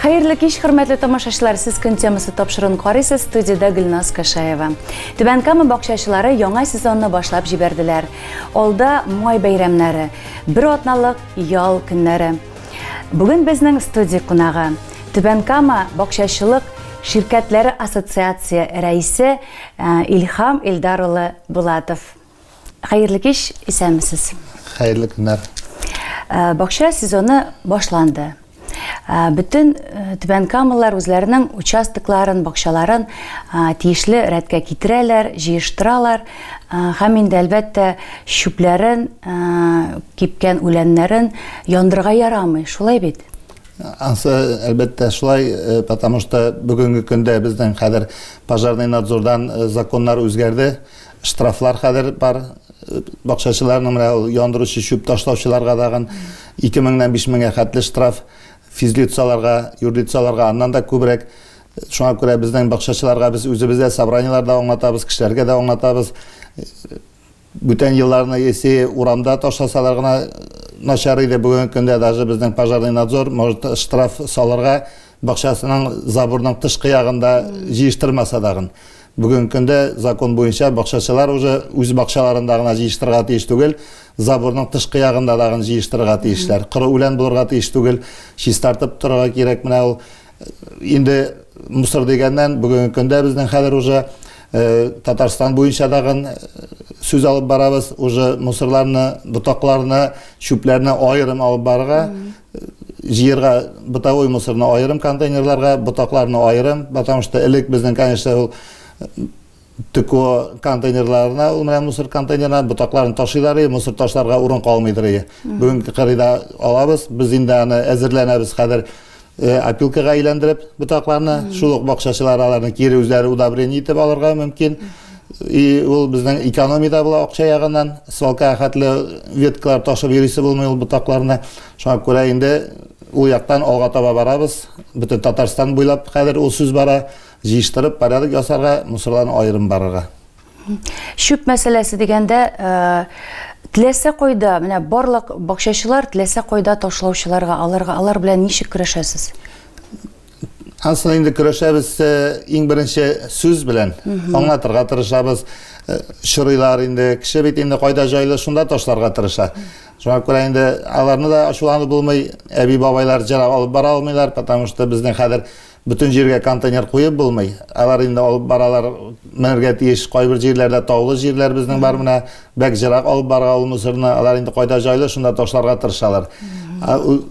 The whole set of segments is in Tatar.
Хәерле кич, хөрмәтле тамашачылар! Сез көн темасы тапшыруын карыйсыз, студиядә Гөлназ Кашаева. Түбән Кама бакчачылары яңа сезонны башлап җибәрделәр. Алда май бәйрәмнәре, бер атналык ял көннәре. Бүген безнең студия кунагы Түбән Кама бакчачылык ширкәтләре ассоциация рәисе э, Илхам Илдар улы Булатов. Хәерле кич, исәнмесез. Хәерле көннәр. Э, бакча сезоны башланды. Э, бөтен э, түбән камалар үзләренең участокларын, бакчаларын тиешле рәткә китерәләр, җыештыралар һәм инде әлбәттә чүпләрен, кипкән үләннәрен яндырга ярамый, шулай бит? Ансы әлбәттә шулай, потому что бүгенге көндә безнең хәзер пожарный надзордан законнар үзгәрде. штрафлар хәзер бар бакчачыларның менә ул яндыручы чүп ташлаучыларга тагын ике меңнән биш меңгә хәтле штраф физлицаларга юрлицаларга аннан да күбрәк шуңа күрә безнең бакчачыларга без үзебез дә собраниелар да аңлатабыз кешеләргә дә аңлатабыз бүтән елларны если урамда ташласалар гына начар иде бүгенге көндә даже безнең пожарный надзор может штраф салырга бакчасының заборның тышкы ягында җыештырмаса тагын. Бүген көндә закон буенча бакчачылар уже үз бакчаларында гына җыештырга тиеш түгел, заборның тышкы ягында тагын җыештырга тиешләр. Коры үлән булырга тиеш түгел, чистартып торырга кирәк. Менә ул инде мусор дигәннән бүген көндә безнең хәзер уже э, Татарстан буенча тагын э, сүз алып барабыз, уже мусорларны, ботакларны, чүпләрне аерым алып барырга. җыерга бытовой мусорны аерым контейнерларга, ботакларны аерым, потому что элек безнең, конечно, ул ТКО контейнерларына, ул менә мусор контейнерына ботакларын ташыйлар иде, мусор ташларга урын калмыйдыр иде. Бүгенге кырыйда алабыз, без инде аны әзерләнәбез хәзер э, опилкага әйләндереп ботакларны, шул ук бакчачылар аларны кире үзләре удобрение итеп алырга мөмкин. И ул безнең экономия дә була акча ягыннан. Свалка хәтле веткалар ташып йөрисе булмый ул ботакларны. Шуңа күрә инде ул яктан алга таба барабыз. Бөтен Татарстан буйлап хәзер ул сүз бара. Җыештырып, порядок ясарга, мусорларны аерым барырга. Чүп мәсьәләсе дигәндә, теләсә кайда, менә барлык бакчачылар теләсә кайда ташлаучыларга, аларга, алар белән ничек көрәшәсез? Ансын инде көрәшәбез э, иң беренче сүз белән аңлатырга тырышабыз. Э, Чырыйлар инде, кеше бит инде кайда җайлы, шунда ташларга тырыша. Шуңа күрә инде аларны да ачуланып булмый, әби бабайлар җыра алып бара алмыйлар, потому что безнең хәзер бөтен җиргә контейнер куеп булмый. Алар инде алып баралар, менергә тиеш. Кайбер җирләрдә таулы җирләр безнең бар менә, бәк җырак алып барга ул мусорны. Алар инде кайда җайлы, шунда ташларга тырышалар. Ә ул-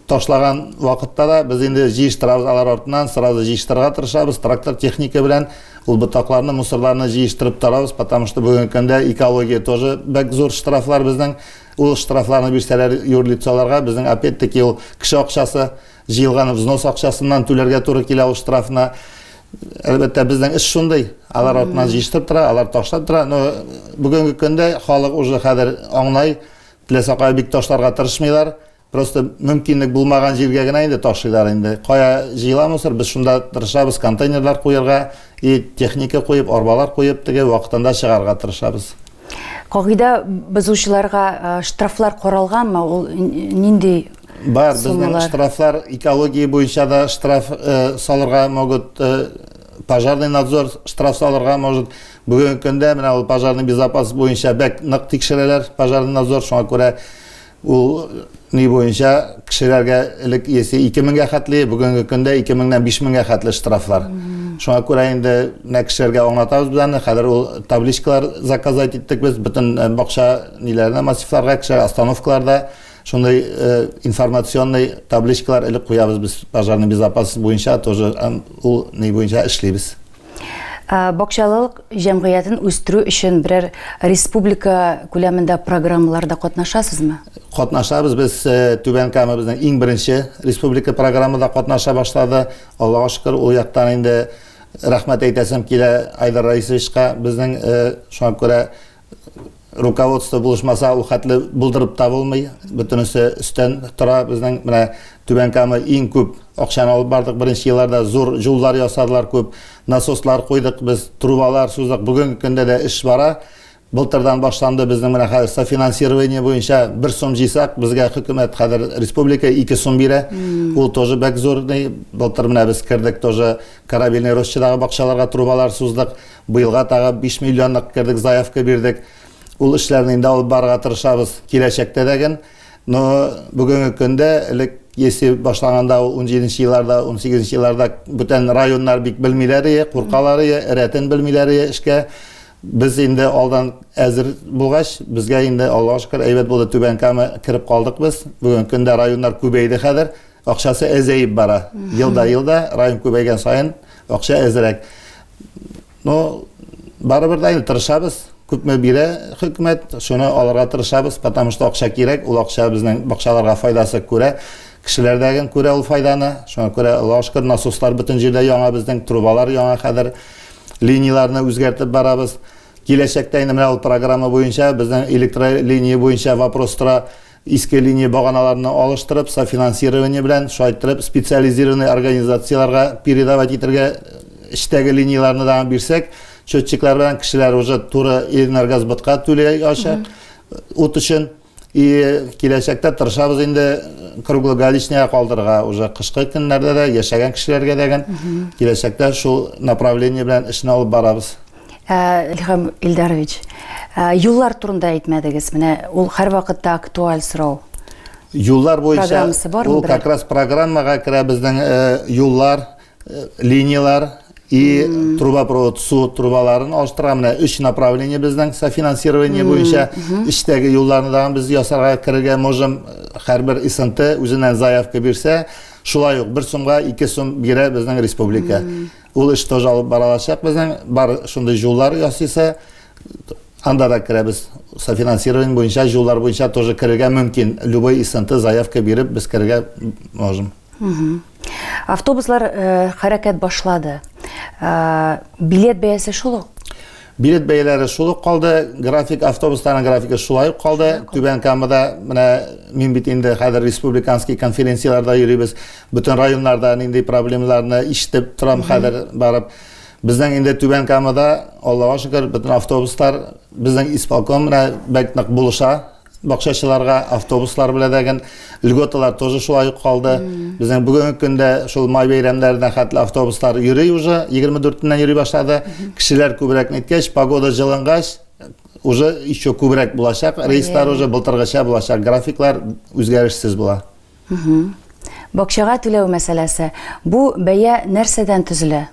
Ташлаган вакытта да без инде җыештырабыз алар артыннан, сразу җыештырырга тырышабыз, трактор техника белән ул ботакларны, мусорларны җыештырып тарабыз, потому что бүгенге көндә экология тоже бәк зур штрафлар безнең, ул штрафларны бирсәләр юрлицоларга, безнең опять-таки ул кеше акчасы, җыелган взнос акчасыннан түләргә туры килә ул штрафны. Әлбәттә, безнең эш шундый. Алар артыннан җыештырып тора, алар ташлап тора. Но бүгенге көндә халык уже хәзер аңлай, теләсә кая бик ташларга тырышмыйлар. Просто мөмкинлек булмаган җиргә генә инде ташыйлар инде. Кая җыела мусор, без шунда тырышабыз контейнерлар куерга, и техника куеп, арбалар куеп, теге вакытында чыгарга тырышабыз. Кагыйдә бозучыларга штрафлар каралганмы? Ул нинди Бар, безнең штрафлар экология буенча да штраф салырга могут, пожарный надзор штраф салырга может. Бүгенге көндә менә ул пожарный безопасность буенча бәк нык тикшерәләр пожарный надзор, шуңа күрә Ул ни буенча кешеләргә элек есе 2000-гә хәтле, бүгенге көндә 2000-нән 5000-гә хәтле штрафлар. Шуңа күрә инде менә кешеләргә аңлатабыз без аны. Хәзер ул табличкалар заказать иттек без бөтен бакча ниләренә, массивларга, кеше остановкаларда шундый информационный табличкалар элеп куябыз без. Пожарный безопасность буенча тоже ул ни буенча эшлибез. Бакчалылык җәмгыятен үстерү өчен берәр республика күләмендә программаларда катнашасызмы? Катнашабыз без э, Түбән Кама безнең иң беренче республика программада катнаша башлады. Аллага шөкер, ул яктан инде рәхмәт әйтәсем килә Айдар Раисовичка. Безнең э, шуңа күрә руководство булышмаса, ул хәтле булдырып та булмый. Бөтенесе өстән тора. Безнең менә Түбән Кама иң күп акчаны алып бардык. Беренче елларда зур юллар ясадылар, күп насослар куйдык, без трубалар суздык. Бүгенге көндә дә эш бара. Былтырдан башланды безнең менә хәзер софинансирование буенча бер сум җыйсак, безгә хөкүмәт хәзер республика ике сум бирә. Ул тоже бәк зур. Былтыр менә без кердек тоже корабельный рощадагы бакчаларга трубалар суздык. Быелга тагы биш миллионлык кердек заявка бирдек. Ул эшләрне инде алып барырга тырышабыз киләчәктә дә ген. Но бүгенге көндә элек если башлаганда ул унҗиденче елларда, унсигезенче елларда бүтән районнар бик белмиләр ие, куркалар ие, рәтен белмиләр ие эшкә. Без инде алдан әзер булгач, безгә инде Аллага шөкер әйбәт булды, Түбән Кама кереп калдык без. Бүгенге көндә районнар күбәйде хәзер, акчасы әзәеп бара. Елда-елда район күбәйгән саен акча әзрәк. но барыбер да инде тырышабыз күпме бирә хөкүмәт шуны алырга тырышабыз потому что акча кирәк ул акча безнең бакчаларга файдасы күрә кешеләрдәген күрә ул файданы шуңа күрә аллаһу шөкер насослар бөтен җирдә яңа безнең трубалар яңа хәзер линияләрне үзгәртеп барабыз киләчәктә инде менә ул программа буенча безнең электролиния буенча вопрос тора Иске линия баганаларны алыштырып, софинансирование белән шайтырып специализированный организацияләргә передавать итәргә, эчтәге линияләрне дә аңа бирсәк, счетчиклар белән кешеләр уже туры Энергосбытка түли ачак ут өчен. И киләчәктә тырышабыз инде круглогаличныйга калдырырга уже кышкы көннәрдә дә, яшәгән кешеләргә дәген киләчәктә шул направление белән эшне алып барабыз. Ә, Илһам Илдарович, ә, юллар турында әйтмәдегез. Менә ул һәрвакытта актуаль сорау. Юллар буенча Программасы бармы ул берәр? как раз программага керә безнең э, юллар, э, линияләр и трубопровод су трубаларын алыштыра. Менә өч направление безнең софинансирование буенча эчтәге юлларны да без ясарга керергә можем. Һәрбер ИСНТ үзеннән заявка бирсә, шулай ук бер сумга ике сум бирә безнең республика. Ул эш тоже алып бара алачак безнең. Бар шундый җуллар ясыйсы, анда да керәбез. Софинансирование буенча, җуллар буенча тоже керергә мөмкин. Любой исенты, заявка биреп, без керергә можем. Автобуслар хәрәкәт башлады. Билет бәясе шул ук? Билет бәяләре шул ук калды, график автобусларның графигы шулай ук калды. Түбән Камада менә мин бит инде хәзер республиканский конференцияләрдә йөрибез. Бөтен районнарда нинди проблемаларны ишетеп торам хәзер барып. Безнең инде Түбән Камада, Аллага шөкер, бөтен автобуслар безнең исполком менә бәк нык булыша. Бакчачыларга автобуслар беләдәген льготалар тоже шулай ук калды. Безнең бүгенге көндә шул май бәйрәмнәренә хәтле автобуслар йөри уже, 24-ннән йөри башлады. Кешеләр күбрәк ниткәч, погода җылынгач, уже еще күбрәк булачак рейслар уже былтыргыча булачак. Графиклар үзгәрешсез була. Бакчага түләү мәсьәләсе. Бу бәя нәрсәдән төзелә?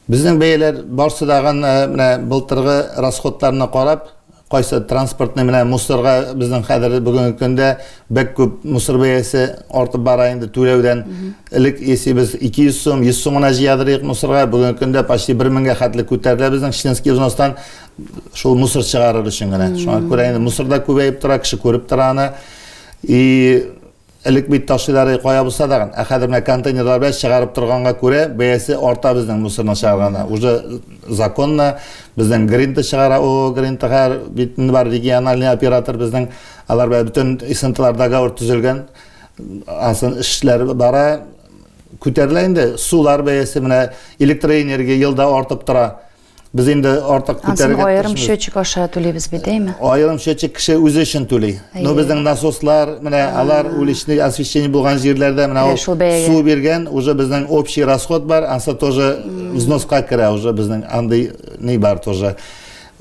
Безнең бәяләр барсы да гына менә былтыргы расходларны карап, кайсы транспортны менә мусорга безнең хәзер бүгенге көндә бәк күп мусор бәясе артып бара инде түләүдән. Элек если без 200 сум, 100 сум гына җыядырыйк мусорга, бүгенге көндә почти 1 меңгә хәтле күтәрелә безнең членский взностан шул мусор чыгарыр өчен генә. Шуңа күрә инде мусор да күбәеп тора, кеше күреп тора аны. И Элек бит таксилары кая булса тагын, ә хәзер менә контейнерлар белән чыгарып торганга күрә, бәясе арта безнең мусорны чыгарганда. Уже законно безнең Гринта чыгара, ООО Гринта һәр бит инде бар региональный оператор безнең, алар белән бөтен СНТлар договор төзелгән. Ансын эшләр бара. Күтәрелә инде сулар бәясе, менә электроэнергия елда артып тора. Без инде артык күтәрергә аерым счетчик аша түлибез бит, әйме? Аерым счетчик кеше үзе өчен түли. Но безнең насослар, менә алар уличный освещение булган җирләрдә менә ул су биргән, уже безнең общий расход бар, ансы тоже взноска керә уже безнең андый ни бар тоже.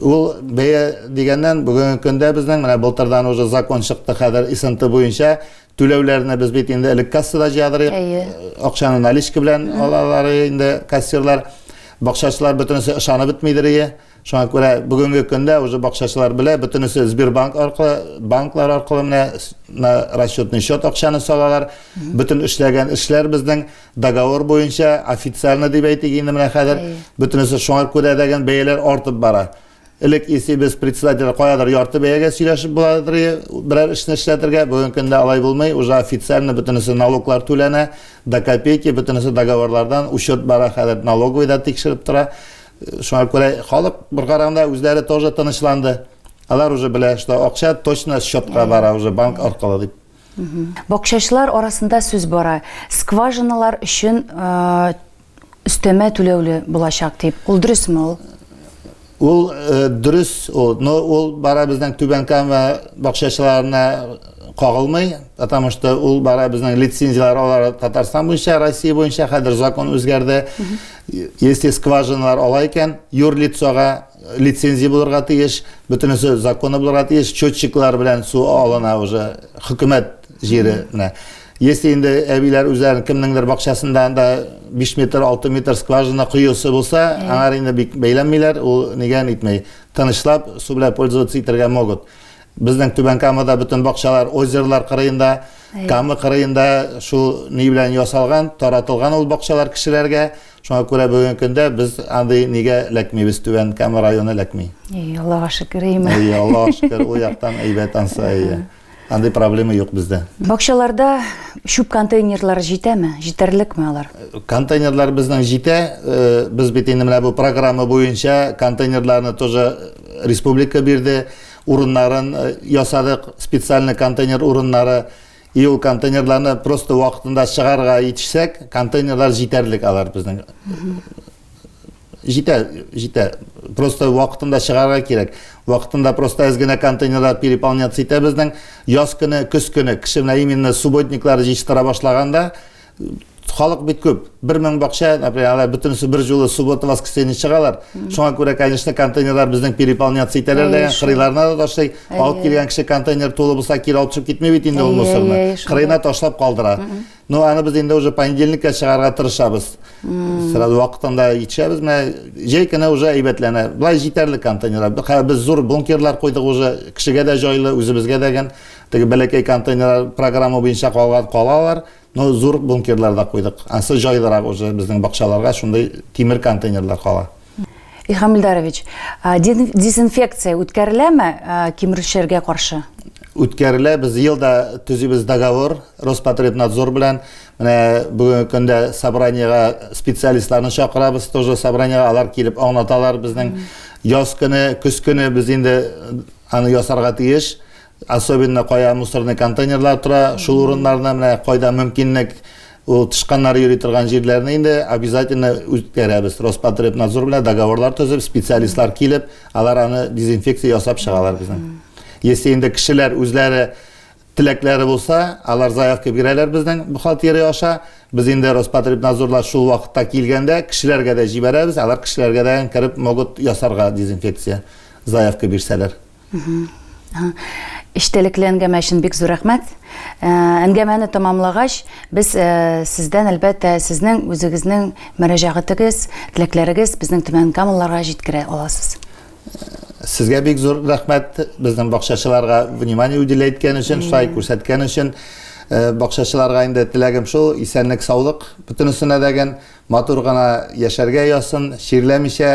Ул бәя дигәннән бүгенге көндә безнең менә былтырдан уже закон чыкты хәзер ИСНТ буенча Түләүләрне без бит инде элек кассада җыядырыйк. Әйе. Акчаны наличка белән алалар инде кассирлар. Бакчачылар бөтенесе ышанып бетмидерие. Шуңа күрә бүгенге көндә уже бакчачылар белә, бөтенесе Сбербанк аркылы, банклар аркылы менә с- на расчетный счет акчаны салалар. Бөтен эшләгән эшләр безнең договор буенча официально дип әйтик инде менә хәзер. Әйе. Бөтенесе шуңа күрә дә ген бәяләр артып бара. Элек исебез председатель каядыр ярты бәягә сөйләшеп буладыр берәр эшне эшләтергә, бүген көндә алай булмый, уже официально бөтенесе налоглар түләнә, до копейки, бөтенесе договорлардан, учет бара хәзер, налоговый да тикшереп тора. Шуңа күрә халык бер караганда үзләре тоже тынычланды. Алар уже белә, что акча точно счетка бара уже банк аркылы дип. Бакчачылар арасында сүз бара, скважиналар өчен өстәмә түләүле булачак дип. Ул дөресме ул? Ул э, дөрес ул. Но ул бара безнең Түбән Кама бакчачыларына кагылмый, потому что ул бара безнең лицензияләр алар Татарстан буенча, Россия буенча хәзер закон үзгәрде. Если скважиналар ала икән, юрлицога лицензия булырга тиеш, бөтенесе законы булырга тиеш, счетчиклар белән су алына уже хөкүмәт җире менә. Если инде әбиләр үзләрен кемнеңдер бакчасында анда 5 метр, 6 метр скважина коюсы булса, аңар инде бик бәйләнмиләр, ул нигә нитмәй. Тынычлап су белән пользоваться итәргә могут. Безнең Түбән Камада бөтен бакчалар озерлар кырыенда, Кама кырыенда шул ни белән ясалган, таратылган ул бакчалар кешеләргә. Шуңа күрә бүгенге көндә без андый нигә эләкмибез, Түбән Кама районы эләкми. Әйе, Аллага шөкер, әйеме? Әйе, Аллага шөкер, ул яктан әйбәт ансы, әйе. Андый проблема юк бездә. Бакчаларда чүп контейнерлары җитәме? Җитәрлекме алар? Контейнерлар безнең җитә. Э, без бит инде менә бу программа буенча контейнерларны тоже республика бирде. Урыннарын э, ясадык, специальный контейнер урыннары. И ул контейнерларны просто вакытында чыгарга итешсәк, контейнерлар җитәрлек алар безнең. Җитә, җитә. Просто вакытында чыгарга кирәк. Вакытында просто әз генә контейнерлар переполняться итә безнең. Яз көне, көз көне кеше менә именно субботниклар җитештыра башлаганда халык бит күп. Бер мең бакча, например, алар бөтенесе бер җулы суббота, воскресенье чыгалар. Шуңа күрә, конечно, контейнерлар безнең переполняться итәләр дә, кырыйларына да ташлый. Алып килгән кеше контейнер тулы булса, кире алып чыгып китми бит инде ул мусорны. Кырыена ташлап калдыра. Ну, аны без инде уже понедельникка чыгарга тырышабыз. Сразу вакытында итешәбез. Менә җәй көне уже әйбәтләнә. Болай җитәрлек контейнерлар. Хәзер без зур бункерлар куйдык уже. Кешегә дә җайлы, үзебезгә дә гел. Теге бәләкәй контейнерлар программа буенча калган калалар. Но зур бункерлар да куйдык. Ансы җайлырак уже безнең бакчаларга шундый тимер контейнерлар кала. Илһам Илдарович, дезинфекция үткәреләме кимерүчеләргә каршы? Үткәрелә, без елда төзибез договор Роспотребнадзор белән. Менә бүгенге көндә собраниега специалистларны чакырабыз, тоже собраниега алар килеп аңлаталар безнең яз көне, көз көне без инде аны ясарга тиеш. Особенно кая мусорный контейнерлар тора, шул урыннарны менә кайда мөмкинлек ул тышканнар йөри торган җирләрне инде обязательно үткәрәбез. Роспотребнадзор белән договорлар төзеп, специалистлар килеп, алар аны дезинфекция ясап чыгалар безнең. Если инде кешеләр үзләре теләкләре булса, алар заявка бирәләр безнең бухгалтерия аша. Без инде Роспотребнадзорлар шул вакытта килгәндә кешеләргә дә җибәрәбез, алар кешеләргә дә кереп могут ясарга дезинфекция заявка бирсәләр. Эчтәлекле әңгәмә өчен бик зур рәхмәт. Э, әңгәмәне тәмамлагач, без э, сездән әлбәттә сезнең үзегезнең мөрәҗәгатегез, теләкләрегез безнең Төмән Камалларга җиткерә аласыз. Сезгә бик зур рәхмәт безнең бакчачыларга внимание уделя иткән өчен, шулай күрсәткән өчен. Э, бакчачыларга инде теләгем шул, исәнлек, саулык, бөтенесенә дәген матур гына яшәргә ясын, чирләмичә,